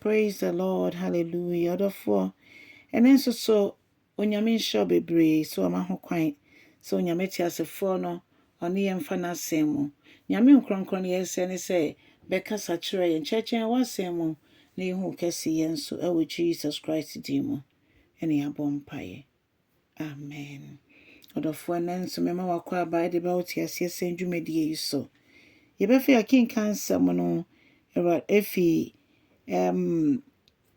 Praise the Lord hallelujah ɔdɔfoɔ ɛne nso so Onyame nhyira wo bebree sɛ wama ho kwan sɛ Onyame teasefoɔ no ɔne yɛn mfa n'asɛm mu Nyame nkorɔnkorɔn yɛ sɛ ne sɛ bɛkasa kyerɛ yɛn kyerɛkyerɛ yɛn w'asɛm mu na yɛhu wo kɛseyɛ nso ɛwɔ Jesus Christ din mu ɛne yɛabɔ mpaeɛ. Amen. Ɔdɔfoɔ ɛnnɛ nso mema wakɔ aba de ba otiaseɛ sɛn dwumadie yi so. Yɛbɛfɛ akenka nsɛm no Awurade efi um,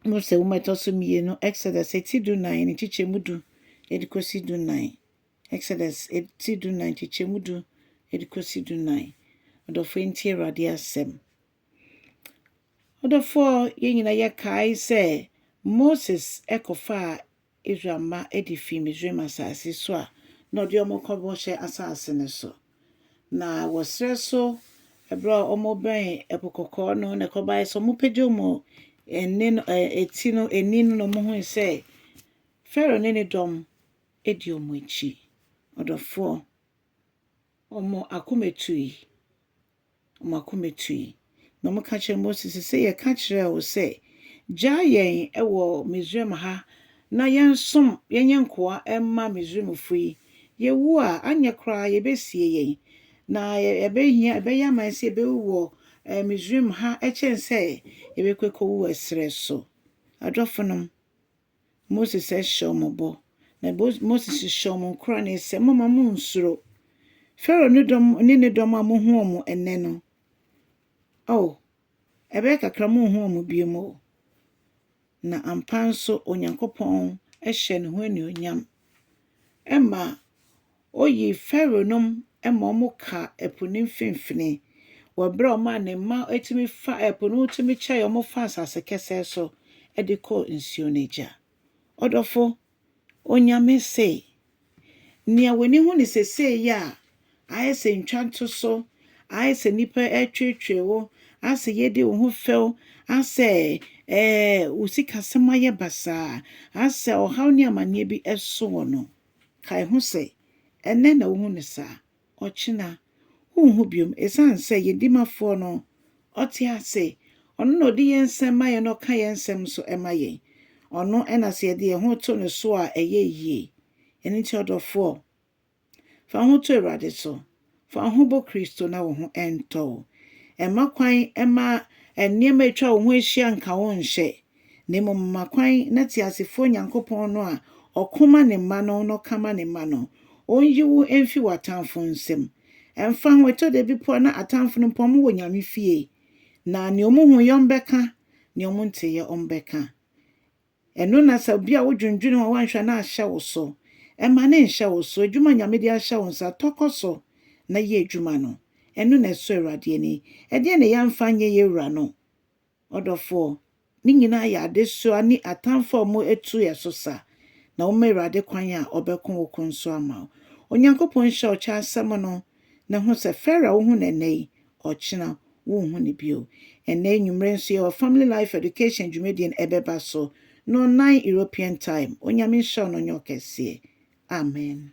Mose nwoma ɛtɔ so mmienu Exodus eti du nan ne kyekyɛmu du ɛde kɔsi du nan. Exodus eti du nan kyekyɛmu du ɛde kɔsi du nan. Ɔdɔfoɔ nti Awurade asɛm. Ɔdɔfoɔ yɛn nyinaa yɛkae sɛ Moses ɛkɔfaa Israel mma de fii Misraim asase so a na ɔde wɔn rekɔ Bɔhyɛ Asase no so. Na wɔ serɛ so berɛ a wɔbɛn Ɛpo Kɔkɔɔ no na ɛkɔbaeɛ sɛ wɔpagya wɔn ani no, ɛ, ti no, ani no na wɔhui sɛ Farao ne ne dɔm di wɔn akyi. Ɔdɔfoɔ, wɔn akoma tui. Wɔn akoma tui, na wɔka kyerɛɛ Mose se, Sɛ yɛka kyerɛɛ wo sɛ, 'Gyaa yɛn wɔ Misraim ha na yɛnsom, yɛnyɛ nkoa mma Misraimfo yi, yewu a, anyɛ koraa yebesie yɛn, na ɛbehia, ɛbɛyɛ ama yɛn sɛ yebewu wɔ Misraim ha kyɛn sɛ yɛbɛkɔ akowu wɔ serɛ so. Adɔfonom. Moses hyɛ wɔn bɔ, na Moses hyehyɛ wɔn nkoran sɛ, Mommma munnsuro. Farao ne dɔm ne ne dɔm a mohu wɔn nnɛ no, ao, ɛbɛyɛ kakra munnhu wɔn biom o. Na ampa nso Onyankopɔn hyɛɛ ne ho anuonyam ma Oyii Farao nom ma wɔkaa po no mfinfini, wɔ berɛ a ɔmaa ne mma tumi fa ɛpo no mu tumi kyɛe wɔn faa asase kɛsɛɛ so de kɔɔ nsuo no agya. Ɔdɔfo, Onyame se, Nea w'ani hu no seesei yi a, ayɛ sɛ ntwantoso, ayɛ sɛ nnipa retweetwee wo, ayɛ sɛ yɛredi wo ho fɛw, ayɛ sɛ ɛɛ wo sikasɛm ayɛ basaa, ayɛ sɛ ɔhaw ne amanneɛ bi so wo no. Kae ho sɛ, ɛnnɛ na wuhu no saa, ɔkyena, wunhu biom. Esiane sɛ yɛn Dimafoɔ no, Ɔte ase, Ɔno na Ɔde yɛn nsɛm ma yɛn na Ɔka yɛn nsɛm nso ma yɛn. Ɔno na sɛ yɛde yɛn ho to No so a, ɛyɛ yie. Ɛno nti, ɔdɔfoɔ, fa wo ho to Awurade so, Fa wo ho bɔ Kristo na wo ho ntɔ wo. Mma kwan mma nneɛma a atwa wo ho ahyia nka wo nhyɛ, na mmom ma kwan na teasefoɔ Nyankopɔn no a ɔko ma ne mma no na ɔka ma ne mma no, ɔnyi wo mfi w'atamfo nsam. Ɛmfa ho, ɛtɔ da bi mpo a na atamfo no mpo wɔwɔ Nyame fie, na nea wɔhuiɛ wɔbɛka, nea wɔnteeɛ wɔbɛka. Ɛno na sɛ bia wodwendwene ho a woanhwɛ na ahyɛ wo so. Mma no nhyɛ wo so. Adwuma a Nyame de ahyɛ wo nsa, tɔ kɔ so na yɛ adwuma no. Ɛno na ɛsɔ Awurade ani. Ɛdeɛn na yɛamfa anyɛ yɛn Wura no? Ɔdɔfoɔ, ne nyinaa yɛ adesoa ne atamfo a wɔatu yɛn so sa, na woma Awurade kwan a ɔbɛko wo ko nso ama wo. Onyankopɔn nhyira wo kyɛ asɛm no. na hu sɛ Farrah a wohu no ɛnnɛ yi, ɔkyena wonhu no bio. Ɛnnɛ anwummere nso yɛwɔ Family Life Education dwumadie no ɛbɛba so, nɔnnan European time. Onyame nhyira wo na ɔnyɛ ɔkɛseɛ. Amen.